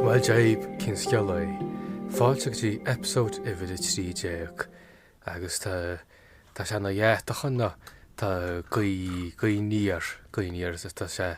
Bhuel deib cén sceal é. Fáilte go dtí episode uimhir 13 agus tá tá sé ina dheatach an tá guí guí níor guí níor tá sé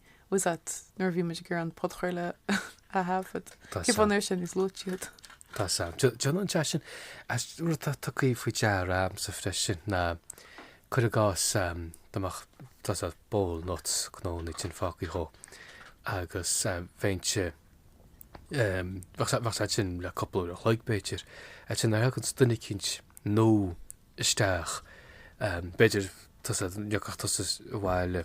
was that nuair a bhí muid ag iarraidh an podchraoladh a thaifead. Cén fáth nár ith sé níos luaithe iad? Tá a fhios a'm. Dé- Déanann an teas sin as rud atá tugtha faoi deara a'msa freisin ná cuir i gcás am, dá mbeadh tá a fhios a'd bowl nuts cnónna sin fágtha dhó agus eh, bheinn se em, bheadh sa- bheadh siad ansin le cúpla uair an chloig b'fhéidir. Ansin nuair a thagann duine eicínt nua isteach. B'fhéidir tusa dá dtiocfadh tusa abhaile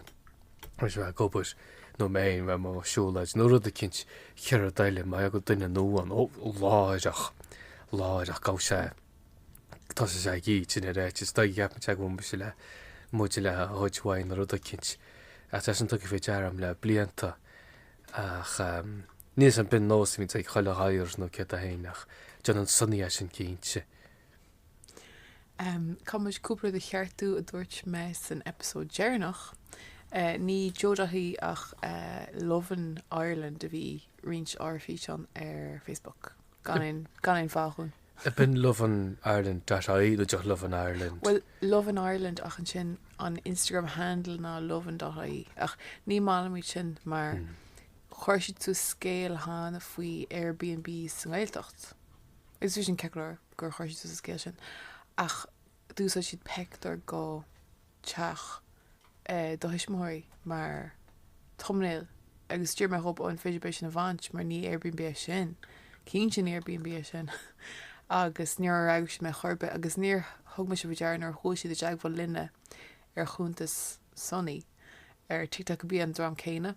ó bheith ag obair nó mé fhéin bheith amuigh ag siúlóid nó rud eicínt chéad rud eile mar bheadh duine nua ann ó láithreach, láithreach gabh sé tosaigh sé ag ithe ansin ar each is dóigh cheap mé teagmhaigh mise le muid le hoid uaidh nó rud eicínt ach tá sé sin tugtha faoi deara a'm le blianta ach níl a fhios a'm ab in nós a bhíonn ag chuile ghadhar nó céard é fhéin ach déanann Sonny é sin cinnte. Caithfidh muid cúpla rud a cheartú a dúirt mé san eipeasóid deireanach. Ní Joe dot ie ach lovin Ireland a bhí ag roinnt ár bhfíseán ar Facebook. Gan aon, gan aon fáth dhúinn. Ab in lovin Ireland dot ie nó just lovin Ireland? Bhuel, lovin Ireland ach ansin an Instagram handle ná lovin dot ie ach ní maith liom iad sin mar chuir siad suas scéal cheana faoi Airbnb sa nGaeltacht. Agus bhí sin ceart go leor. gur chuir siad suas an scéal sin ach d'úsáid siad peictiúr go teach do thuismitheoirí mar thumbnail agus d'iarr mé dhóibh an féidir libh é sin a bhaint mar ní Airbnb é sin. Cinnte ní Airbnb é sin. agus níor fhreagair siad mé chor ar bith agus níor thug mise faoi deara nuair a chuaigh siad i dteagmháil linne ar chuntas Sonny ar TikTok gurb é an dream céanna.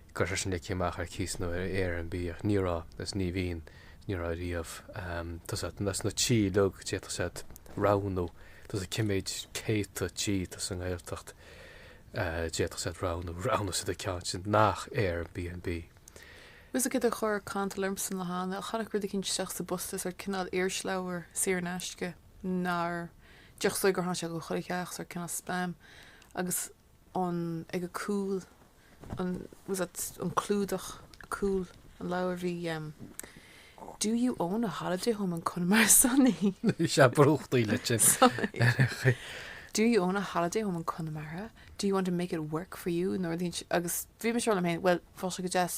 Go raibh sé sin ligthe amach ar cíos nó ar Airbnb ach ní raibh, is ní bhíonn, is ní raibh riamh. Tá a fhios a'd as na tithe uilig a d'fhéadfadh siad roghnú, tá a fhios a'd cé mhéad céadta tithe atá sa nGaeltacht a d'fhéadfadh siad roghnú, roghnaigh siad an ceann sin nach Airbnb. Bhfuil a fhios a'd céard a chuir cantal ormsa an lá cheana tháinig rud eicínt isteach sa bposta sórt cineál irisleabhar saor in aisce nár, déarfainnse gur tháinig sé go chuile theach sórt cineál spam agus, an ag a cúl an was that an clúdach ar chúl an leabhar bhí um, Do you own a holiday home in Connemara Sonny? Bhí sé ag brúchtaíl ansin. Sonny. Do you own a holiday home in Connemara? Do you want to make it work for you? Nuair a sí agus bhí mise ag rá liom féin bhuel bheadh sé go deas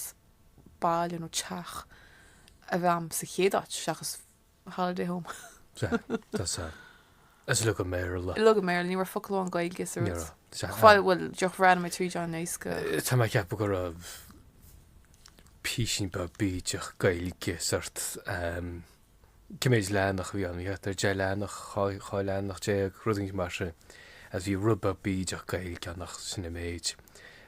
baile nó teach a bheith a'm sa chéad áit seachas Holiday Home. Sea, tusa. Is uilig i mBéarla. Uilig i mBéarla, ní raibh focal amháin Gaeilge sa rud. Bhuel, bhuel, deoch, bhreathnaigh mé tríd an éasca. Tá mé ceapadh go raibh píosín beag bídeach Gaeilge sort cé mhéad leathanach a bhí ann, bhí thart ar deich leathanach, dhá leathanach déag, rud éigin mar sin, agus bhí rud beag bídeach Gaeilge ann ach sin an méid.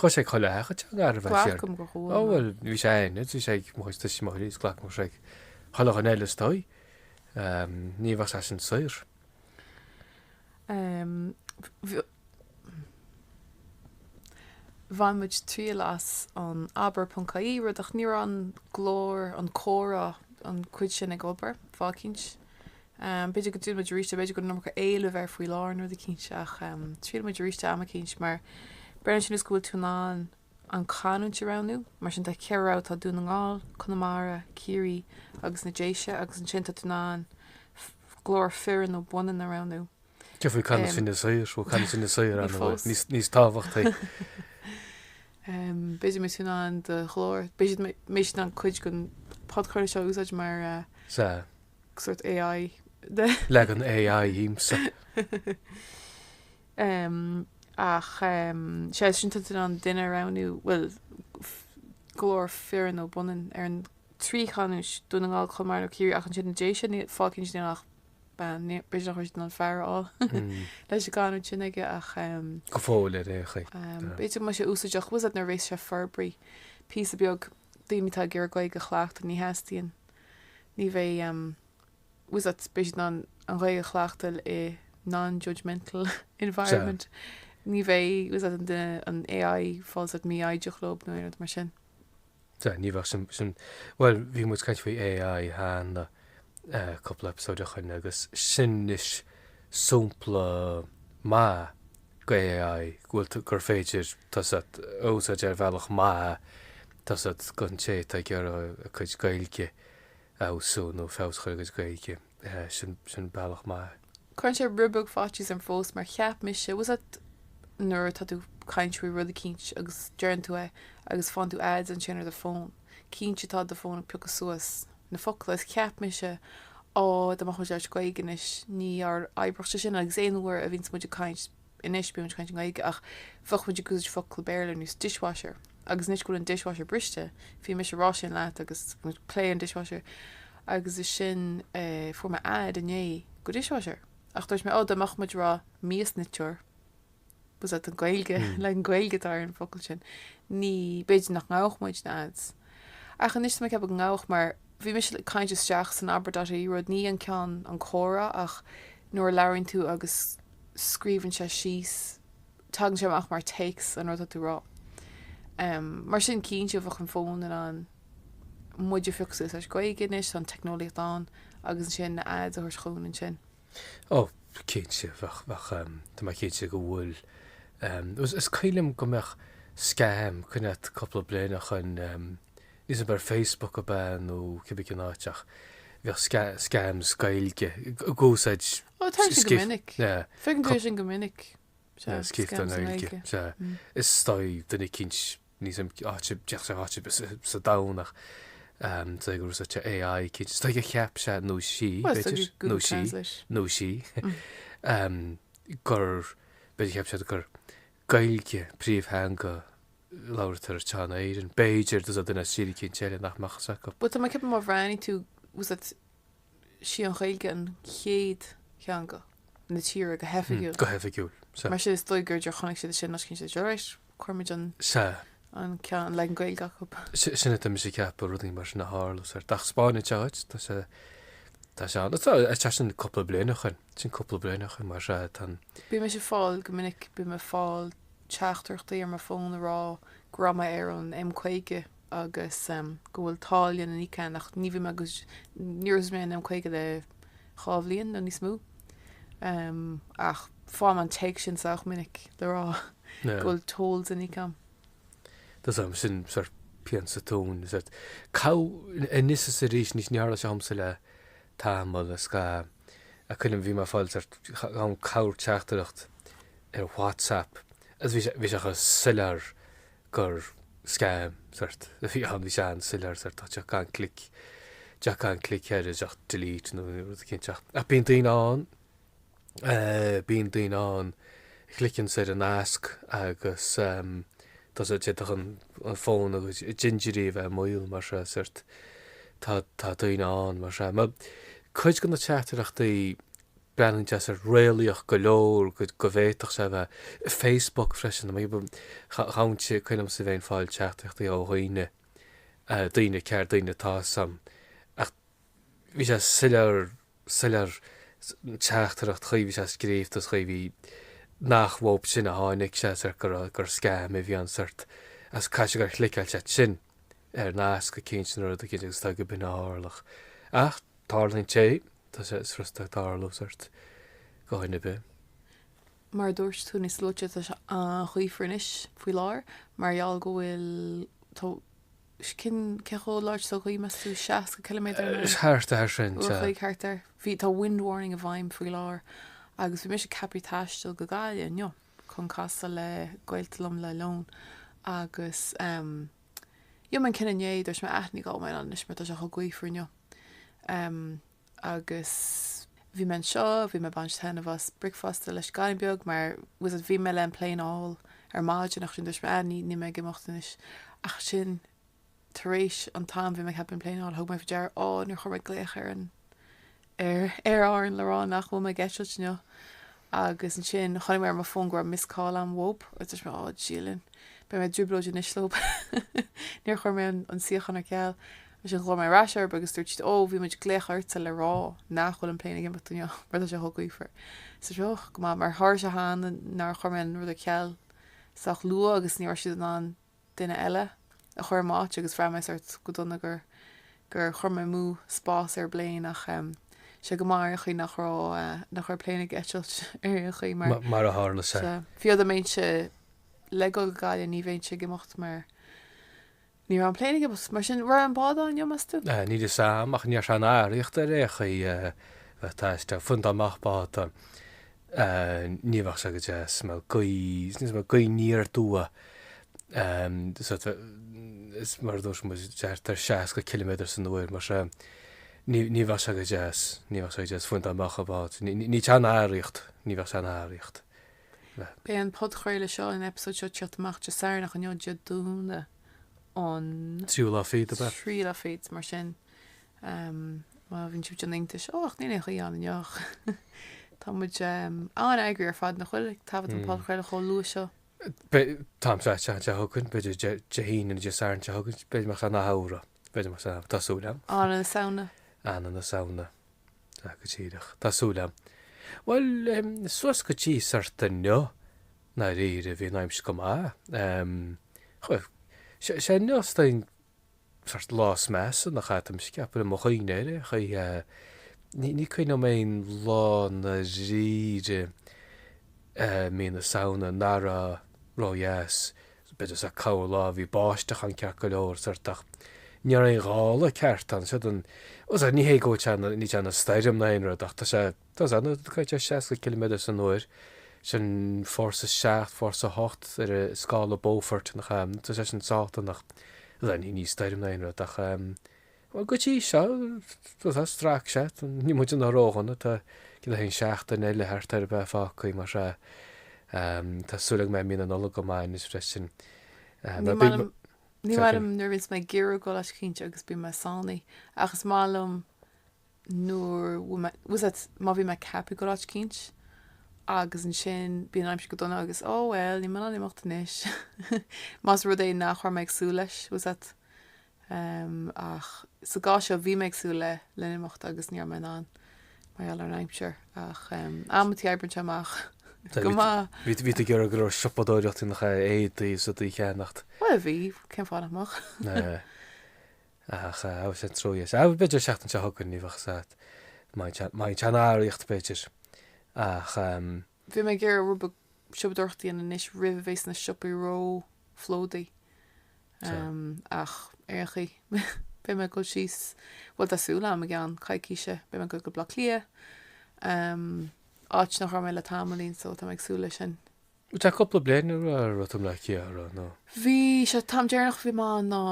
Chuir sé chuile theach teanga ar bheith siar. Glacaim go chuala mé. Bhuel, bhí sé ann is bhí sé ag muid tuis mo is glacaim sé chuile theach eile istigh. Ní bheadh sé sin saor. Bhain muid triail as an abair.ie freisin ach ní raibh an glór an comhrá an cuid sin ag obair fáth eicínt. B'fhéidir go dtriailfidh muid arís, nó b'fhéidir go n-iomarca éileamh air faoi láthair, nó rud eicínt, ach triailfidh muid arís é am eicínt, mar breá sin is go bhfuil tú in ann an chanúint a roghnú. Mar sin tá ceithre rogha, tá Dún na nGall, Conamara, Ciarraí agus na Déise, agus ansin tá tú in ann glór fireann nó baineann a roghnú. Tiocfaidh canúint Fine Gael ó canúint Fine Gael ann a bhfuil níos tábhachtaí. B'fhéidir muid in ann do ghlór, b'fhéidir mé in ann cuid den podchraoladh seo a úsáid mar, sórt AI de. Leagan AI dhíomsa. Em, ach em, sé sin tá tú in ann duine a roghnú, bhuel, f- glór fireann nó baineann ar an trí chanúint, Dún na nGall, Conamara nó Ciarraí, ach ansin na Déise, ní- fáth eicínt níl ach bean, ní- b'fhéidir nach raibh siad in ann fear a fháil Mm, leis an gcanúint sin aici ach em, go fóill ar aon chaoi. em, Tá. b'fhéidir go mbeidh sé úsáideach, tá a fhios agat nuair a bhéas sé forbraithe píosa beag daoine atá ag iarraidh Gaeilge a chleachtadh, ní theastaíonn. Ní bheidh tá a fhios agat, beidh siad in ann an Ghaeilge a chleachtáil i non-judgemental environment. Ní bheidh tá a fhios agat, an duine an AI ag fáil sórt mífhoighdeach leo nó aon rud mar sin. Sea, ní bheadh sin, sin, bhuel, bhí muid ag caint faoi AI cheana. cúpla eipeasóid ó shoin agus sin anois sompla maith go AI go bhfuil tú, gur féidir tá a fhios agat a úsáid ar bhealach maith tá a fhios agat gon té atá ag iarraidh a cuid Gaeilge a fheabhsú nó feabhas a chur ar a gcuid Gaeilge. Sin, sin bealach maith. Cuireann sé rud beag faitíos orm fós mar cheap mise, tá a fhios agat nuair atá tú ag caint faoi rud eicínt agus deireann tú é agus faigheann tú ads ansin ar do fón. Cinnte tá do fón ag piocadh suas na focla is cheap mise Á dá mbeadh muid ag labhairt Gaeilge anois níor oibreodh sé sin agus aon uair a bhíonns muid ag caint anois bíonn muid ag caint i nGaeilge ach bheadh muid ag úsáid focla Béarla ar nós dishwasher agus níos go bhfuil an dishwasher briste bhí mise ag rá sin leat agus ag plé an dishwasher agus ansin fuair mé ad inné go dishwasher ach dúirt mé Ó dá mbeadh muid ag rá miasniteoir was that an Gaeilge, leagan Gaeilge atá ar an bhfocal sin, ní, b'fhéidir nach ngabhadh muid na ads. Ach anois tá mé ag ceapadh go ngabhadh mar bhí mise ag caint isteach san abra.ie rud, ní an ceann an comhrá ach nuair a labhraíonn tú agus scríobhann sé síos, tagann sé amach mar téacs an rud atá tú a rá. Em, mar sin cinnte bheadh an fón in ann muid a phiocadh suas le Gaeilge anois, tá an teicneolaíocht ann, agus ansin na ads a thabhairt chugainn ansin. Ó, cinnte, bheadh, bheadh. Tá mé cinnte go bhfuil. Is cuimhin liom go mbeadh scam, coinne at cúpla bliain ó shoin, níl a fhios agam ar Facebook ab ea nó cibé cén áit ach bheadh scams Gaeilge ag úsáid scríofa. Ó, tá sé go minic. Feicim go bhfuil sin go minic. Scríofa i nGaeilge. Is dóigh, duine eicínt Níl a fhios agam áit d'fhéadfadh sé áit ar bith sa domhan ach cé go raibh sé te AI cinnte is dóigh a cheap sé nó sí, Well, is b'fhéidir, dóigh nó Google sí, Translate. nó sí, em, gur, b'fhéidir cheap siad gur Gaeilge príomhtheanga a labhartar in Éirinn. B'fhéidir, just duine as tír éicint eile nach mbeadh a fhios acu. But tá mé ag ceapadh má bhreathnaíonn tú, was it sí an Ghaeilge an chéad theanga na tíre go hoifigiúil. Go hoifigiúil. Sea. Mar sin is dóigh gur chonaic siad sin nó chinn siad, right, cuirimid an. Sea. An ceann, an leagan Gaeilge chucu. Sin atá mise ag ceapadh rudaí mar sin a tharla sórt ach spáineann sé duit. Tá sé, tá sé ann. Tá, tá sin cúpla bliain ó shoin. Sin cúpla bliain ó shoin mar sea tá. Bíonn mise ag fáil go minic, bíonn mé ag fáil teachtaireachtaí ar mo fón a rá go raibh mé ar an M50 agus go bhfuil táille le n-íoc agam ach ní bhíonn mé ag, níor úsáid mé an M50 le dhá bhliain nó níos mó. Ach faighim an téacs sin sách minic le rá go bhfuil tolls le n-íoc agam. Tá a fhios agam sin sórt pian sa tóin. Gach anois is arís níos níor tharla sé dhomsa le tamall is ga is cuimhin liom bhí mé ag fáil sórt an corrtheachtaireacht ar WhatsApp is bhí sé bhí sé chomh soiléir gur scam sórt a bhí ann, bhí sé an-soiléir sórt ach just gan click just gan click air just delete nó rud éicint ach ach bíonn daoine ann eh, bíonn daoine ann a chliceann siad ar an nasc agus em, tá sé d'fhéadfadh an an fón agus dintiúirí a bheith i mbaol mar sin sórt tá tá daoine ann mar sin mar cuid de na teachtaireachtaí Breathnaíonn siad sórt réalaíoch go leor go bhféadfadh sé a bheith i Facebook freisin. Ghabhann sé, cuimhnímse a bheith ag fáil teachtaireachtaí ó dhaoine, daoine, cairde, daoine atá a fhios agam, ach bhí sé soiléir, soiléir, an teachtaireacht, an chaoi a bhí sé ag scríobh is an chaoi a bhí, nach uathu sin a tháinig sé, gur scam a bhí ann, is caithfidh sé gur chliceáil siad sin. ar nasc a cinnt an rud a gcinnteodh agus tá go binne tharlach. Ach tarlaíonn sé, tá sé furasta tarlú sort do dhuine ar bith. Mar a dúirt tú níos luaite tá sé an-ghaofar anois faoi láthair mar gheall go bhfuil tá cén, cé chomh láidir sa ghaoth meas tú 60 km san uair? Thart air sin, ó sea. Thart air. Bhí tá wind warning i bhfeidhm faoi láthair agus bhí mise ceaptha taisteal go Gaillimh inniu. chun casadh le gaolta liom le lón agus rinne mé an cinneadh inné dúirt mé á ní ghabhfaidh mé ann anois mar tá sé chomh gaofar inniu agus bhí mé anseo bhí mé ag baint taitneamh as bricfeasta leis an gcailín beag mar was it bhí mé le an plane a fháil ar maidin ach ansin dúirt mé á ní, níl mé ag imeacht anois ach ansin Tar éis an t-am bhí mé ceaptha an plane a fháil, thug mé faoi deara, Á, níor chuir mé glaoch ar an, ar, Aer Árann le rá nach bhfuil mé ag eitilt inniu. Agus ansin chonaic mé ar mo fón go raibh missed call a'am uathub, agus dúirt mé, Á, Dia linn, beidh mé i dtrioblóid anois leob. Níor chuir mé an, an suíochán ar ceal. Ansin ghlaoigh mé ar ais orthub agus dúirt siad, Ó, bhí muid ag glaoch ortsa le rá nach bhfuil an plane ag imeacht inniu, mar tá sé chomh gaofar. Is dúirt mé, Och, go maith, mar tharla sé cheana nár chuir mé an rud ar ceal sách luath agus ní raibh siad in ann duine eile a chur i m'áit agus bhraith mé sort go dona gur, gur chuir mé amú spás ar an bplane ach em sé go maith ar aon chaoi nach raibh, nach raibh an plane ag eitilt ar aon chaoi mar, mar a tharla sé. sea, fiú dá mbeinnse le dhul go Gaillimh ní bheinnse ag imeacht mar ní raibh an plane ag imeacht. Mar sin an raibh an bád ann inniu meas tú? Aye, níl 'fhios a'am ach ní raibh sé in araíocht ar aon chaoi a bheith ag taisteal, fiú dá mbeadh bád. Ní bheadh sé go deas mar gaoth aniar aduaidh is mar a dúirt muid thart ar 60 ciliméadar san uair mar sin ní bheadh sé go deas, ní bheadh sé go deas fiú dá mbeadh an bád. Níl sé in araíocht, ní bheadh sé in araíocht. Beidh an podchraoladh seo, an eipeasóid seo ag teacht amach Dé Sathairn ach inniu Dé Domhnaigh an. Tríú lá fichead ab ea? Tríú lá fichead mar sin. Má bhíonn sibh ag déanamh iontais, ó ach níl aon ghaoth ann inniu ach tá muid an-eagraithe ar fad nach bhfuil ag taifead an podchraoladh chomh luath seo. An t-am seo an tseachtain seo chugainn, b'fhéidir Dé hAoine nó Dé Sathairn anseo chugainn, b'fhéidir mar an Samhradh, b'fhéidir mar Samhradh, tá súil a'am. I mí na Samhna. I mí na Samhna. Tá go díreach. Tá súil a'am. Bhuel, suas go dtí sort inniu, i ndáiríre, bhí an aimsir go maith. Sea, inniu is dóigh. sórt lá is measa nach ea tá mise ag ceapadh i mo chuimhne ar aon chaoi ní ní cuimhin liom aon lá i ndáiríre mí na Samhna nach raibh ró-dheas b'fhéidir sea cúpla lá bhí báisteach ann ceart go leor sórt ach ní raibh aon ghála ceart ann fiú anois ní hé go bhfuil sé níl sé ina stoirm ná aon rud ach tá sé Tá an ionad caite ar 60 ciliméadar san uair, sin fórsa 7, fórsa 8 ar scála Beaufort, nach ea? Tá sé sin sách dona. Bhuel, ní ní stoirm ná aon rud ach, em, bhuel, go dtí seo, tá a fhios agat, strac sé, níl muid ina ródhona, tá gnoithe an seachtain eile thart ar a bheith fágtha, mar sea. Em, tá súil agam go mbeidh mí na Nollag go maith anois freisin. Em, Ní maith liom, ní maith liom nuair a bhíonns mé ag iarraidh dul áit eicínt agus bíonn mé sáinnithe, ach is maith liom nuair bhfuil mé, bhfuil a fhios agat, má bhí mé ceaptha a ghoil áit eicínt, agus ansin bíonn an aimsir go dona agus oh well níl mé in ann imeacht anois más rud é nach raibh mé ag súil leis, bhfuil a fhios agat. Em, ach sa gcás seo bhí mé ag súil le, le n-imeacht agus ní raibh mé in ann mar gheall ar an aimsir, ach em, amantaí oibríonn sé amach go maith. Bhí, bhí tú ag iarraidh go raibh siopadóireacht a dhéanamh, éadaí deasa a cheannacht. Bhuel bhí, cén fáth nach mbeadh. Ach is é an trua é is b'fhéidir an seachtain seo chugainn, ní bheadh a fhios agat maidin sean-araíocht b'fhéidir, ach. Bhí mé ag iarraidh rud beag siopadóireachta a dhéanamh anois roimh a bheas na siopaí róphlódaithe, ach ar aon chaoi, beidh mé ag dul síos, bhuel tá súil agam i gceann coicíse, beidh mé ag dul go Baile Átha Cliath, áit nach raibh mé le tamaillín, so tá mé ag súil leis sin. Tá sé cúpla bliain ó raibh tú i mBaile Átha Cliath, a raibh, nó? Bhí, sé an t-am deireanach a bhí mé ann ná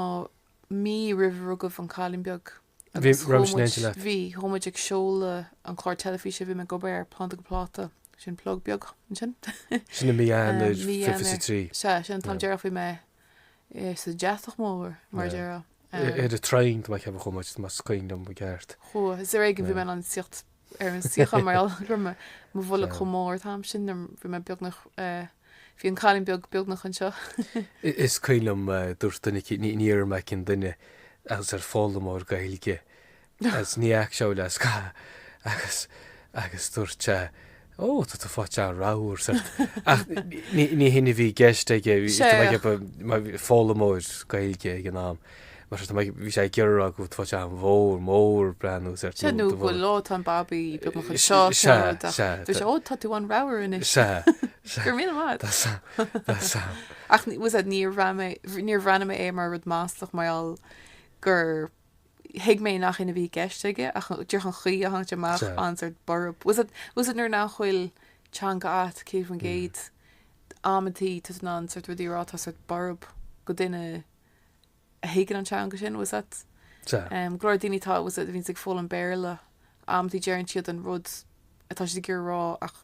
mí roimh rugadh an cailín beag Bhí agus roinnt muid, léinte leat. bhí, chuaigh muid ag seoladh an clár teilifíse a bhí mé ag obair air, Planda go Pláta, sin plug beag, ansin? Sin i mí Eanáir Mí Eanáir. 53. Sea, sin an t-am Yeah. deireanach a bhí mé eh, sa deatach mór, mar a Yeah. déarfá. I- Ar an traein, tá mé ag ceapadh a chuaigh tú, más cuimhin liom i gceart. Chuaigh, is ar éigin bhí Yeah. mé in ann suí ar an suíochán mar gheall go raibh mo bholg chomh mór an t-am sin nuair bhí mé beagnach, bhí an cailín beag beagnach anseo. Is cuimhin liom dúirt duine eicínt, ní dhéarfaidh mé cén duine agus sórt foghlaimeoir Gaeilge agus ní fhaca sé mé le scaitheamh agus dúirt sé Ó, tá tú faighte an-ramhar, ceart. Ach ní hin a bhí i gceist aige, bhí foghlaimeoir Gaeilge ag an am, mar sin bhí sé ag iarraidh a rá go bhfuil tú faighte an-mhór, mór ag breathnú, ceart. Sea, nó go bhfuil like tá an babaí beagnach anseo, ceart. Sea, sea. Dúirt sé, ó, tá tú an-ramhar anois. Sea, sea. Go raibh míle maith agat. Tá a fhios agam, tá a fhios agam. Ach bhfuil a fhios agat, níor bhreathnaigh mé air mar rud maslach mar gheall gur thuig mé nach hin a bhí i gceist aige ach díreach an chaoi a tháinig sé amach sórt borb bhfuil a fhios agat bhfuil a fhios agat nuair nach bhfuil teanga agat céad faoin gcéad amantaí tá tú in ann sórt rudaí a rá atá sórt borb go duine a thuigeann an teanga sin bhfuil a fhios agat um, go leor daoine atá bhfuil a fhios agat a bhíonns ag foghlaim an Béarla amantaí deireann siad an rud atá siad ag iarraidh a rá ach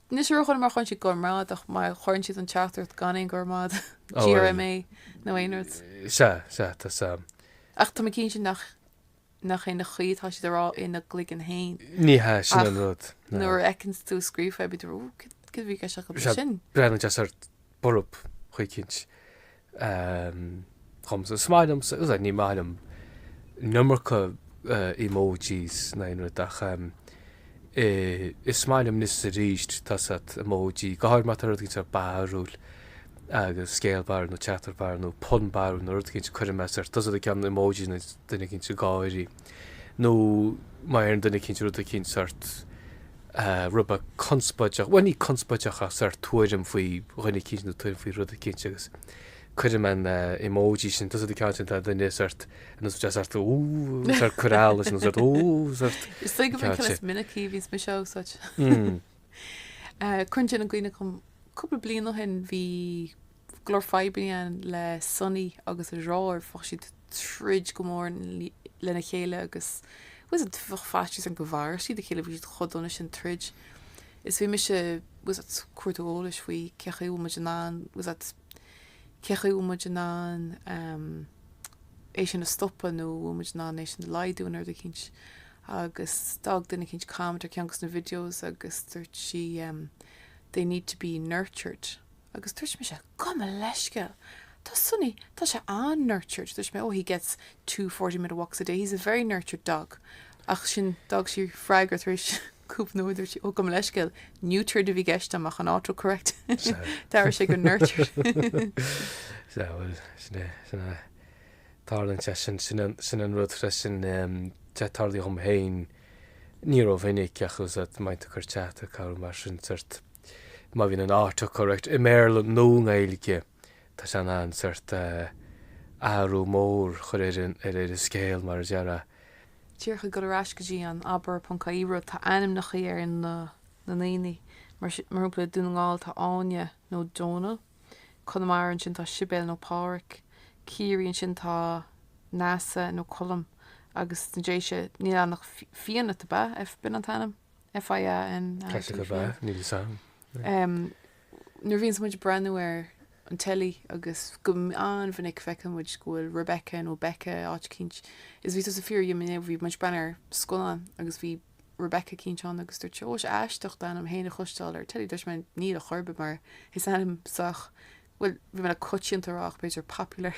Anois a raibh chun má chuireann siad go raibh maith agat ach má chuireann siad an teachtaireacht gan aon go raibh maith agat, GRMA nó aon rud. Sea, sea, tá fhios a'm. Ach tá mé cinnte nach nach in é an chaoi atá siad á rá ina gcloigeann fhéin. Ní hea, sin an rud. Ach nuair a fheiceanns tú scríofa é bíonn tú, 'Ó, céard a bhí i gceist acu ansin? Breathnaíonn sé just sórt. borb chaoi eicínt dhomsa. Is maith liomsa, is é, ní maith liom an iomarca emojis ná aon rud ach is maith liom anois is aríst tá fhios a't emoji, go háirid má tá rud eicínt sórt barrúil agus scéal barrúil nó teachtaireacht barrúil nó pun barrúil nó rud eicínt cuireann mé sórt, tá fhios a't an ceann emoji duine eicínt ag gáirí. nó má iarrann duine eicínt rud eicínt, sórt eh, rud beag conspóideach, bhuel ní conspóideach ach sórt tuairim faoi dhuine eicínt nó tuairim faoi rud eicínt agus cuirim an eh, emoji sin, tá fhios a't an ceann sin tá duine sórt, nó tá sórt ú, sórt corál leis nó sórt ú, sórt. Is dóigh gurb é an ceann sin is minicí a bhíos mise ag úsáid. Mm. Cuireann sin i gcuimhne dhom cúpla bliain ó shin bhí go leor fadhbanna ann le Sonny agus a dheartháir. Bheadh siad ag troid go mór lena chéile agus bheadh faitíos orm go maródh siad a chéile, bhí siad chomh dona sin ag troid. Is bhí mise bhfuil fhios a't ag cuartú eolais faoi cé acu an bhfuil muid in ann bhfuil fhios a't cé acu an bhfuil muid in ann é sin a stopadh nó an bhfuil muid in ann é sin a laghdú ar dhóigh eicínt. Agus d'fhág duine eicínt comment ar cheann de na videos agus dúirt sí they need to be nurtured. Agus dúirt mise, Gabh mo leithscéal, tá Sonny, tá sé an-nurtured. Dúirt mé, Oh, he gets two forty minute walks a day, he's a very nurtured dog. Ach sin, d'fhág sí freagra tar éis cúpla nóiméad, dúirt sí, Oh, gabh mo leithscéal, neutered a bhí i gceist agam ach an autocorrect, d'athraigh sé go nurtured. Sea, bhuel, sin é, sin é. Tarlaíonn sé sin, sin an, sin an rud freisin, em, te tarlaíonn dhom fhéin, ní rómhinic ach bhfuil fhios a't má bhíonn tú ag cur teachtaireacht nó mar sin sórt Má bhíonn an autocorrect i mBéarla nó i nGaeilge, tá sé in ann sórt eh, athrú mór a chur ar an scéal mar a déarfá. Díreach ag dul ar ais go dtí an abair ponc ie rud, tá ainmneachaí ar na na ndaoine. Mar sin, mar shampla i Dún na nGall tá Áine nó Dónall, Conamara ansin tá Sibéal nó Pádraic, Ciarraí ansin tá Neasa nó Colm agus sna Déise níl ann ach Fi Fianait, ab ea? F B'in an t-ainm? F I A N A I T go breá, níl fhios a'm. Nuair a bhíonns muid ag breathnú ar an teilí agus go an-mhinic feiceann muid go bhfuil Rebecca nó Becca i áit eicínt. Is bhí tusa ag fiafraí dhíom inné, bhí muid ag breathnú ar scannán agus bhí Rebecca eicínt ann agus dúirt tú, Ó, is aisteach d'ainm fhéin a chloisteáil ar an teilí. Dúirt mé, Níl a chor ar bith mar is ainm sách bhuel, bhí mé le coitianta a rá, ach b'fhéidir popular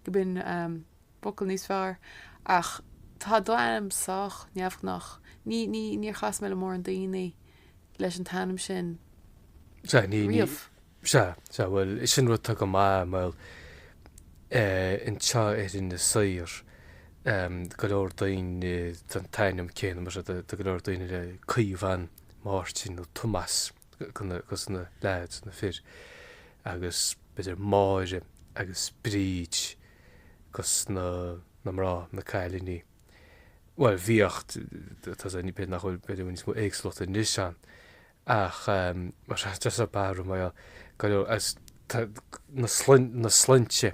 go mb'in focal níos fearr, ach tá do ainm sách neamhghnách. Ní, ní, níor chas mé le mórán daoine leis an t-ainm sin Sea, ní, ní, riamh. sea, sea, bhuel, sin rud atá go maith, bhuel, eh, anseo ar Inis Oírr, em, go leor daoine den t-ainm céanna, mar seo, do, do go leor daoine le Caomhán, Máirtín nó Tomás. dos na leaids, na fir, agus b'fhéidir Máire agus Bríd dos na na mná, na cailíní. Bhuel bhíodh, tá's agam b'fhéidir nach bhfuil, b'fhéidir go bhfuil níos mó éagsúlachta anois ann ach mar sin just so barúil mar gheall dos na na sloinnte,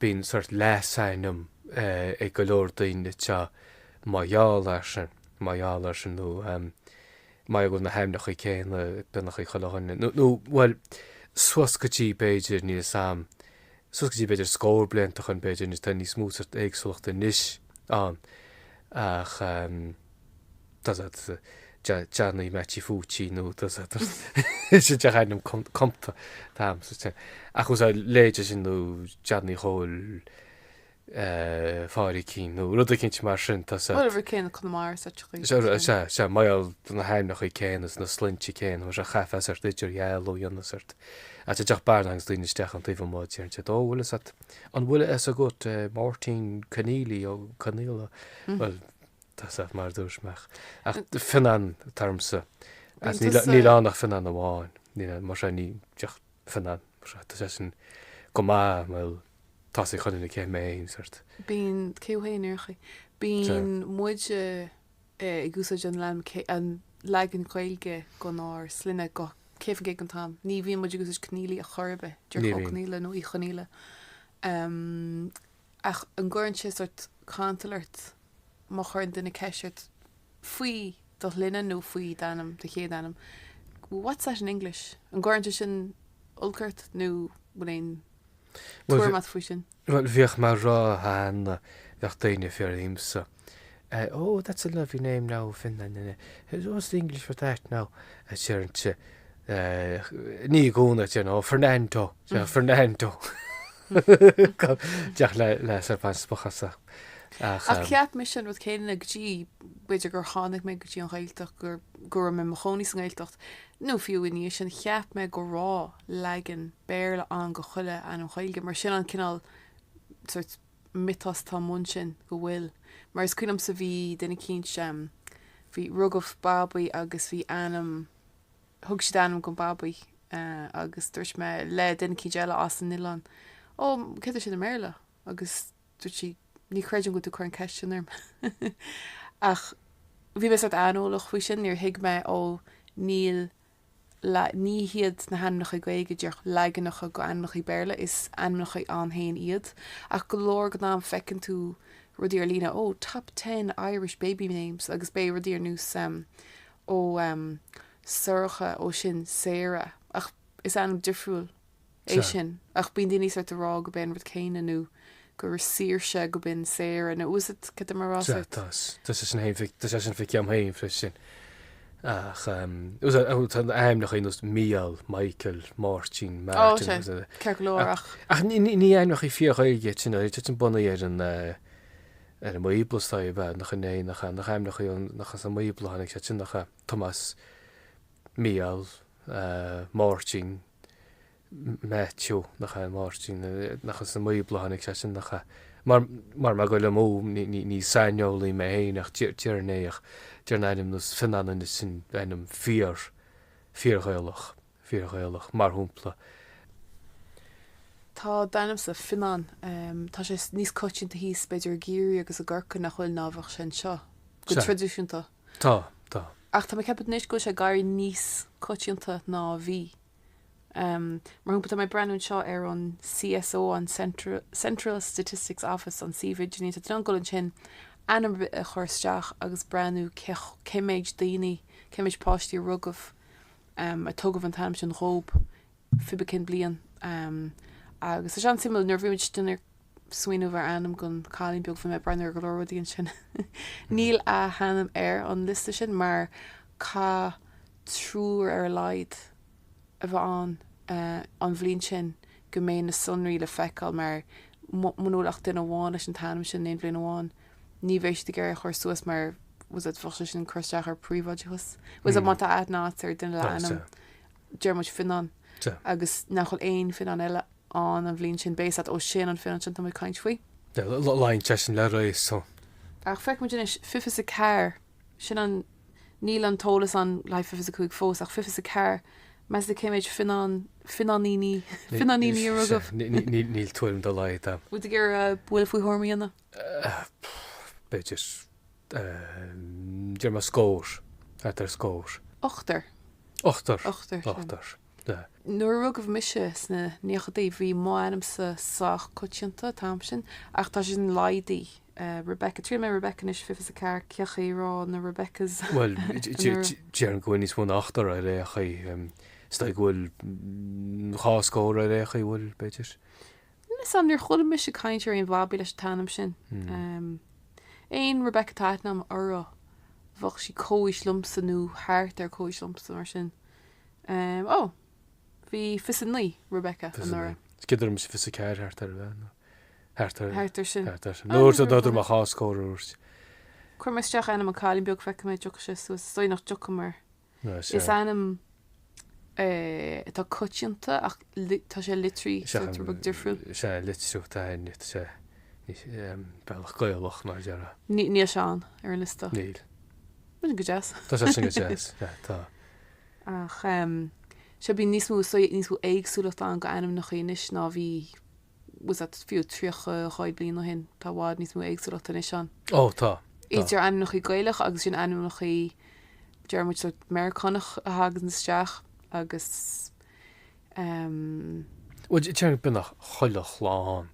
Bíonn sort leasainm ag go leor daoine anseo mar gheall air sin, mar gheall air sin nó mar gheall ar na hainmneacha céanna, beagnach ag chuile dhuine nó, nó, bhuel, suas go dtí b'fhéidir níos, suas go dtí b'fhéidir scór blianta ó shin b'fhéidir, tá níos mó sort éagsúlachta anois ann ach. Johnny Mattie Fúitín nó is é díreach ainm cumtha atá agam ach ús a leithéide sin nó Johnny Chóil Phádraig Keane nó rud eicínt mar sin. Ó, an rud céanna i gConamara is áiteachaí leis sin. Sea, sea, mar gheall do na hainmneacha céanna is na sloinnte céanna mar seo caithfidh sort idirdhealú a dhéanamh sort ait a dteach bearna agus daoine isteach ón taobh amuigh deireann siad Ó, bhfuil fhios a'd, an bhfuil a fhios agat Máirtín Conneely Ó Conaola? Bhuel, Tá's a'd mar dúirt mé ach ach Fionnán atá ormsa is níl Fionntas, níl eh. ann ach Fionnán amháin. Níl ann, mar seo ní díreach Fionnán mar seo. Tá sé sin go maith bhuel tá's ag chuile dhuine cé mé féin sort. Bíonn, cé ó shéan ar chaoi? Bíonn muide eh, ag úsáid an leagan cé- an leagan Gaeilge denár sloinne go céad faoin gcéad den t-am. Ní bhíonn muid ag úsáid Conneely a chor ar bith. Deir Ní bhíonn. Conneely nó Uí Chonaola. Em, Ach an gcuireann sé sórt cantal ort má chuireann duine ceist ort faoi do shloinne nó faoi d'ainm, do chéad ainm, what's that in English? An gcuireann sé sin olc ort nó bhfuil aon tuairim a't faoi sin? Bhuel, bhíodh mé a rá cheana, bheadh daoine ag fiafraí dhíomsa. Oh, that's a lovely name now, Fionnán. Is what's the English for that now? Deirinnse i gcónaí, you know, Fernando, you know, Fernando. Díreach le, le sort of spochadh astu. Ach Ach um, cheap mise an rud céanna go dtí b'fhéidir gur tháinig mé go dtí an Ghaeltacht gur go raibh mé in mo chónaí san Ghaeltacht nó fiú i ndiaidh sin cheap mé go raibh leagan Béarla ann do chuile ainm Ghaeilge mar sin an cineál sort miotas atá amuigh ansin go bhfuil mar is cuimhin liomsa bhí duine eicínt bhí rugadh babaí agus bhí ainm thug siad ainm don babaí agus dúirt mé le duine eicínt eile as an oileán ó céard é sin i mBéarla agus dúirt sí ní chreidim go bhfuil tú ag cur an ceist sin orm ach bhí mé sórt aineolach faoi sin níor thuig mé ó níl la, Ní hiad na hainmneacha Gaeilge díreach leaganacha d'ainmneacha Béarla, is ainmneacha ann féin iad. Ach go leor den am feiceann tú rudaí ar líne, oh, top ten Irish baby names agus beidh rudaí ar nós, em, oh, em, Sorcha, oh, sin Sarah ach is ainm difriúil é sin, ach bíonn daoine sórt ag rá go b'é an rud céanna nó gur Saoirse go b'in Sarah nó tá a fhios agat céard atá mé a rá sórt. Tá tá sé sin féin fai tá sé sin feicthe agam féin freisin ach tá a fhios agat ainmneacha nós Mícheál, Michael, Máirtín, Ó Martin sé ús ceart go leor ach. Ach ní ní ní ainmneacha fíor-Ghaeilge iad sin tá siad bunaithe ar an ar an mBíobla is dóigh ab ea nach in é nach nach ainmneacha an nach as an mBíobla a tháinig siad sin nach ea Tomás, Mícheál, Máirtín, Maitiú, nach ea, Máirtín, nach as an mBíobla a tháinig siad sin, nach ea? Mar, mar, mar go bhfuilim, ó, ní, ní, ní saineolaí mé féin ach deir, déarfainn é, ach déarfainn ainm nós Fionán anois sin ainm fíor, fíorghaelach, fíorghaelach, mar shampla, tá d'ainmse, Fionán, tá sé níos coitianta thíos b'fhéidir i gCiarraí agus i gCorcaigh nach bhfuil ná a bheadh sé anseo, go traidisiúnta. Tá, tá. Ach tá mé ag ceapadh anois go bhfuil sé ag éirí níos coitianta ná a bhí. Mar shampla, tá mé ag breathnú anseo ar an CSO, an Central Statistics Office, an suíomh idirlín. Tá tú in ann dul ansin, ainm ar bith a chur isteach agus breathnú cé méid daoine, cé méid páistí a rugadh, a tugadh an t-ainm sin dhóibh. pé ar bith cén bliain agus tá sé an-suimiúil nuair a bhí muide ag smaoineamh ar ainm don cailín beag bhí mé ag breathnú ar go leor rudaí ansin. Níl a hainm ar an liosta sin mar caithfidh triúr ar a laghad a bheith ann an bhliain sin go mbeidh na sonraí le feiceáil mar muna bhfuil ach duine amháin leis an t-ainm sin in aon bhliain amháin ní bheidh siad ag iarraidh a chur suas mar tá a fhios agat bheadh sé sin ag cur isteach ar príobháideachas tá a fhios agat má tá aithne agat ar duine le ainm déarfaidh muid Fionán agus nach bhfuil aon Fionán eile ann an bhliain sin. Beidh a fhios agat ó sin an Fionán sin atá mé ag caint faoi. Luíonn sé sin le réasún. Ach feicfidh muid anois, fiche is a ceathair, sin an, níl an t-eolas ann le haghaidh fiche is a cúig fós, ach fiche is a ceathair, meas tú cé méid Fionán, Fionáiníní, Fionáiníní a rugadh? Níl tuairim dá laghad agam. Bhfuil tú ag iarraidh buille faoi thuairim a dhéanamh? B'fhéidir. Deir mé scór. Faightear scór. Ochtar. Ochtar. Ochtar, sin. Ochtar. Na. Nuair a rugadh mise sna naochadaí bhí m'ainmsa sách coitianta an t-am sin, ach tá sé sin laghdaithe. Rebecca. Triailfidh mé Rebecca anois, fiche fiche is a ceathair, cén chaoi a raibh na Rebeccas. Bhuel, déarfainn go bhfuil níos mó ná ochtar ar aon chaoi. Is dóigh go bhfuil dhá scór ar aon chaoi, bhuel, b'fhéidir. Níl 'fhios a'm, níor chuala mise caint ar aon bhabaí leis an t-ainm sin. Aon Rebecca atá aithne a'm orthu, bheadh sí comhaois liomsa nó thart ar comhaois liomsa, mar sin. Ó, bhí fiche is a naoi Rebecca anuraidh. Is cuimhin liom fiche is a ceathair thart ar bheith, nó thart ar, thart ar sin. Nuair a dúirt mé dhá scór. Cuir mé isteach ainm an cailín beag, feicfidh mé an dtiocfaidh sé suas. Is dóigh nach dtiocfaidh mar. Is ainm é atá coitianta ach tá sé litrithe rud beag difriúil. Is ea, litriú atá ann, is é bealach Gaelach mar a déarfá. Níl sé ann ar an liosta. Níl. Bíonn go deas. Tá sé sin go deas, sea, tá. Ach, sea, bíonn níos mó, is dóigh, níos mó éagsúlacht ann go ainmneacha anois ná bhí bhfuil 'fhios a'd fiú tríocha daichead bliain ó shin tá i bhfad níos mó éagsúlacht anois ann. Ó tá. Idir ainmneachaí Gaelach agus ansin ainmneachaí deir muid Meiriceánach a thaganns isteach agus Bhuel déarfainn beagnach chuile chlann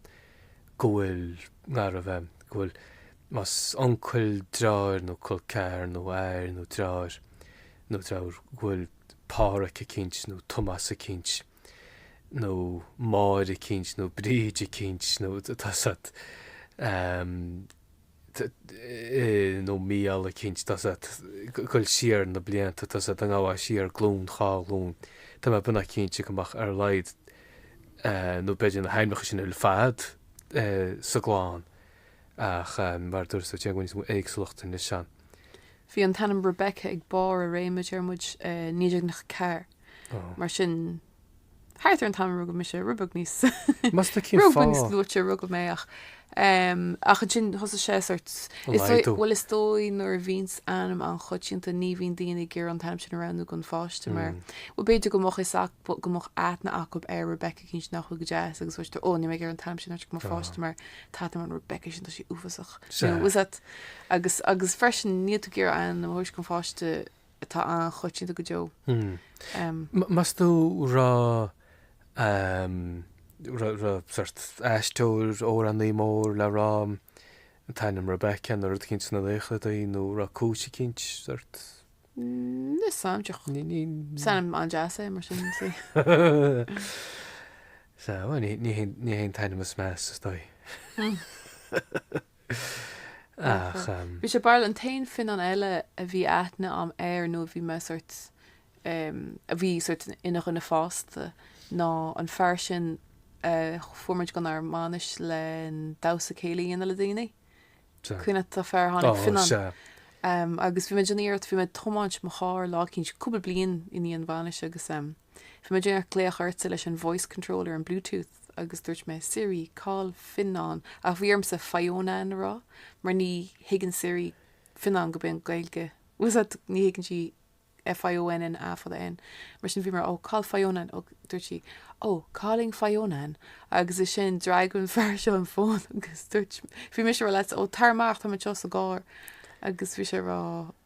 go bhfuil i ngar a bheith go bhfuil más uncail deartháir nó col ceathar nó athair nó deartháir nó deirfiúr go bhfuil Pádhraic eicínt nó Tomás eicínt. nó Máire eicínt nó Bríd eicínt nó tá 'fhios a'd ehm eh nó Mícheál eicínt tá 'fhios a'd ag goil siar na blianta tá 'fhios a'd ag gabháil siar glún dhá ghlún tá mé beagnach cinnte go mbeadh ar a laghad eh nó b'fhéidir na hainmneacha sin ar fad eh sa gclann ach em mar a dúirt tú tá níos mó éagsúlacht anois ann. Bhí an t-ainm Rebecca ag barr a réime deir muid eh 1994. Mar sin, thart ar an t-am a rugadh mise, rud beag níos luaithe a rugadh mé ach ach ansin thosaigh sé sórt bhuel is dóigh nuair a bhíonns ainm an-choitianta ní bhíonn daoine ag iarraidh an t-ainm sin a roghnú don pháiste mar bhuel b'fhéidir go mbeadh is go mbeadh aithne acu ar Rebecca eicínt nach bhfuil go deas agus bhfuil tú ó níl mé ag iarraidh an t-ainm sin a thabhairt do mo pháiste mar tá tú mar an Rebecca sin tá sí uafásach. Sea. Agus agus freisin níl tú ag iarraidh ainm a thabhairt do pháiste atá an-choitianta go deo. Meas tú an raibh sórt aisteoir amhránaí mór le rá, an t-ainm Rebecca nó rud eicínt sna naochadaí nó raibh cúis eicínt sórt? Níl 'fhios a'm ach. Ní ní is ainm an-deas é mar sin sí. Sa ní ní hé an t-ainm is measa is dóigh. Ach em. Bhí sé barrúil an t-aon Fionnán eile a bhí aithne a'm air nó a bhí mé sort em a bhí sort ina dhuine fásta ná an fear sin a fuair muid gon ár mbainis le damhsa céilí a dhéanamh le daoine. Sea. Cuimhin leat an fear a tháinig Ó Fionnán? sea. Em agus bhí mé ag déanamh iarracht bhí mé ag tiomáint mo charr lá eicínt cúpla bliain i ndiaidh an bhainis agus em, Bhí mé ag déanamh glaoch ortsa leis an voice control ar an Bluetooth agus dúirt mé Siri, call Fionnán? Ach bhí ormsa Fionán a rá mar ní thuigeann Siri Fionnán go b'in, Gaeilge, bhfuil a fhios a'd, ní thuigeann sí F-i-o-n-n-a fada N. Mar sin bhí mé a rá oh, call Fionán? Agus dúirt sí oh, calling Fionán. Agus ansin, d'fhreagair an fear seo an fón agus dúirt, bhí mise a rá leatsa oh, tar amach, táim anseo sa gcarr. Agus bhí sé a rá.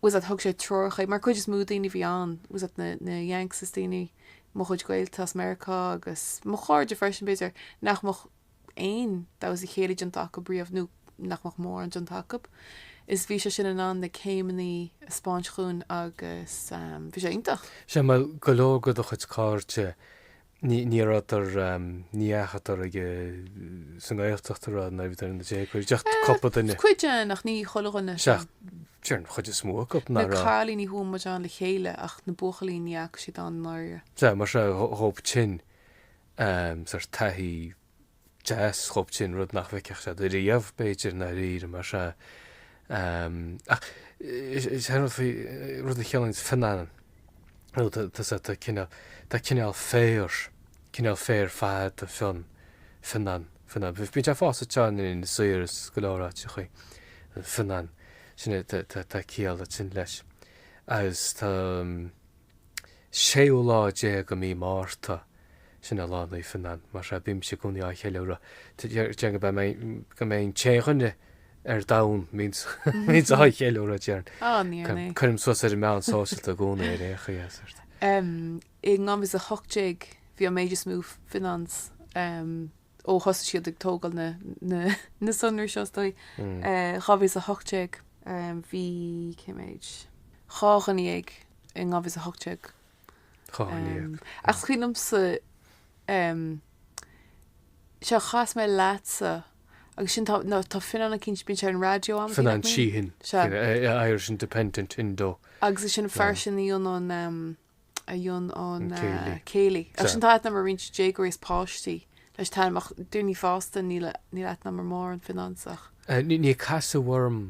bhfuil a fhios a'd thug sé treoracha mar cuid is mó daoine bhí ann bhfuil a fhios a'd na na yanks is daoine mo chuid gaolta as Meiriceá agus mo chairde freisin b'fhéidir nach mbeadh aon damhsa céilí déanta acu riamh nó nach mbeadh mórán déanta acu is bhí sé sin in ann na céimeanna a spáint dhúinn agus um, bhí sé iontach. Sea mar go leor go do chuid cairde Ní rabhadar, ní dheachadar ag sa nGaeltacht nuair a bhíodar ina ndéaga, cuid acu, cúpla duine. Cuid den, ach ní chuile dhuine. Sea, déarfainn an chuid is mó acu, nach raibh. Na cailíní chuaigh muid ann le chéile ach na buachaillí ní dheachaigh siad ann i ndáiríre. Sea, mar sin dhóibh sin, sort taithí. deas dhóibh sin, rud nach bhfeicfeadh siad ariamh, b'fhéidir, i ndáiríre, mar sin. Ach is é an rud faoi, rud a chiallaíonn Fionnán, nó tá, tá, tá cineál, tá cineál féir, cineál féir fada fionn, fionnán, fionnán. Bíonn sé ag fás sa tsáinn in Éirinn saor is go leor áiteachaí, an fionnán, sin é, tá, tá, tá ciall ansin leis. Agus tá. séú lá déag de mhí Márta, sin é Lá Naomh Fionnán, mar sin bímse i gcónaí á cheiliúradh, déarfainn gur mé, gur mé an t-aon duine ar domhan a bhíonns á cheiliúradh, déarfainn. Á, níor naoi. Cuirim suas ar na meáin shóisialta i gcónaí ar aon chaoi as ort. I 2018 bhí an méid is mó Fionnáns. ó thosaigh siad ag tógáil na na na sonraí seo is dóigh. Eh 2018 eh bhí cé mhéid dhá dhuine dhéag i 2018. Dhá dhuine dhéag. Ach cuimhin liomsa eh seo chas mé leatsa agus sin tá ná tá Fionnán eicínt bíonn sé ar an raidió am Fionnán Sheahan. Sea. Irish Independent Indo. Agus ansin an fear sin Fionnán eh. a mhúin an céilí. Agus ansin tá aithne a'm ar roinnt déagóirí is páistí leis an t-ainm ach daoine fásta níl aithne a'm ar mórán Fionnáns ach. Níor casadh orm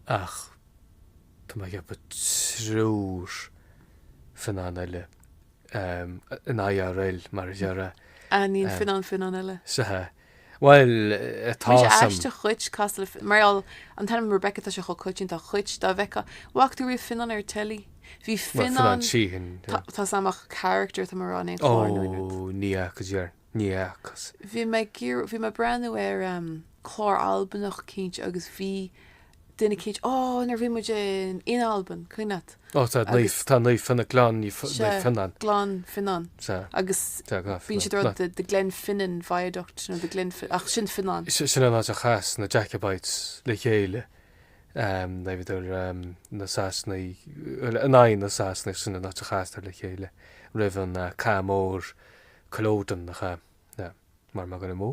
ach, tá mé ag ceapadh, triúr Fionnán eile in IRL mar a déarfá. Aithníonn Fionnán Fionnán eile. Bhuel, tá Bhí sé sam. aisteach dhuit, cosúil le Fi-, mar gheall an t-ainm Rebecca, tá sé chomh coitianta ach dhuit, dá bhfeiceá, bhfaca tú riamh Fionnán ar teilí? Bhí Bhuel, Fionnán Fionnán, Sheahan. tá, tá a fhios agam ach character atá mé a rá in aon Ó, chlár nó in aon. ní fhaca Ger, ní fhacas. Bhí mé ag iarr-, bhí mé ag breathnú ar clár Albanach eicínt, agus bhí. Duine eicínt, Ó, nuair a bhí muid in Albain, cuimhin leat. Ó, tá Naomh, tá Naomh Fionnán, Gleann Naomh Fionnán. Gleann Fionnán. Sea. Agus bíonn siad rud the Glenfinnan Viaduct nó the Glenfinnan, ach sin Fionnán. Sin an áit a chas na Jacobites le chéile, nuair a bhíodar na Sasanaigh, bhuel, in aghaidh na Sasanaigh, sin an áit a chasadar le chéile roimh an Cath Mór, Culloden, nach ea? Mara bhfuil dul amú.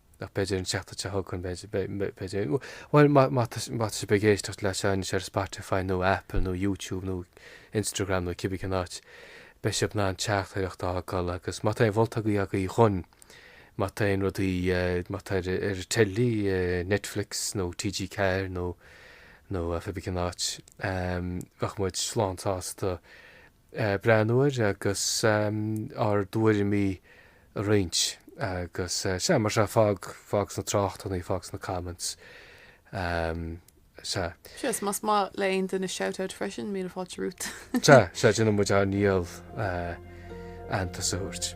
Ach b'fhéidir an tseachtain seo chugainn b'fhéidir, b'fhéidir, bhuel má, má tá, má tá sibh ag éisteacht leis seo anois ar Spotify nó Apple nó YouTube nó Instagram nó cibé cén áit, beidh sibh in ann teachtaireacht a fhágáil agus má tá aon mholtaí agaí dhúinn, má tá aon rudaí, má tá ar, ar an teilí, Netflix nó TG4 nó, nó cibé cén áit, bheadh muid lánsásta, breathnú air agus ár dtuairimí a roinnt agus sea, mar sea, fág, fág sna tráchtanna, fág sna comments, sea. Sea, is más maith le aon duine shoutout freisin, míle fáilte romhat. Sea, sea, déanann muid ár ndícheall aitheantas a thabhairt.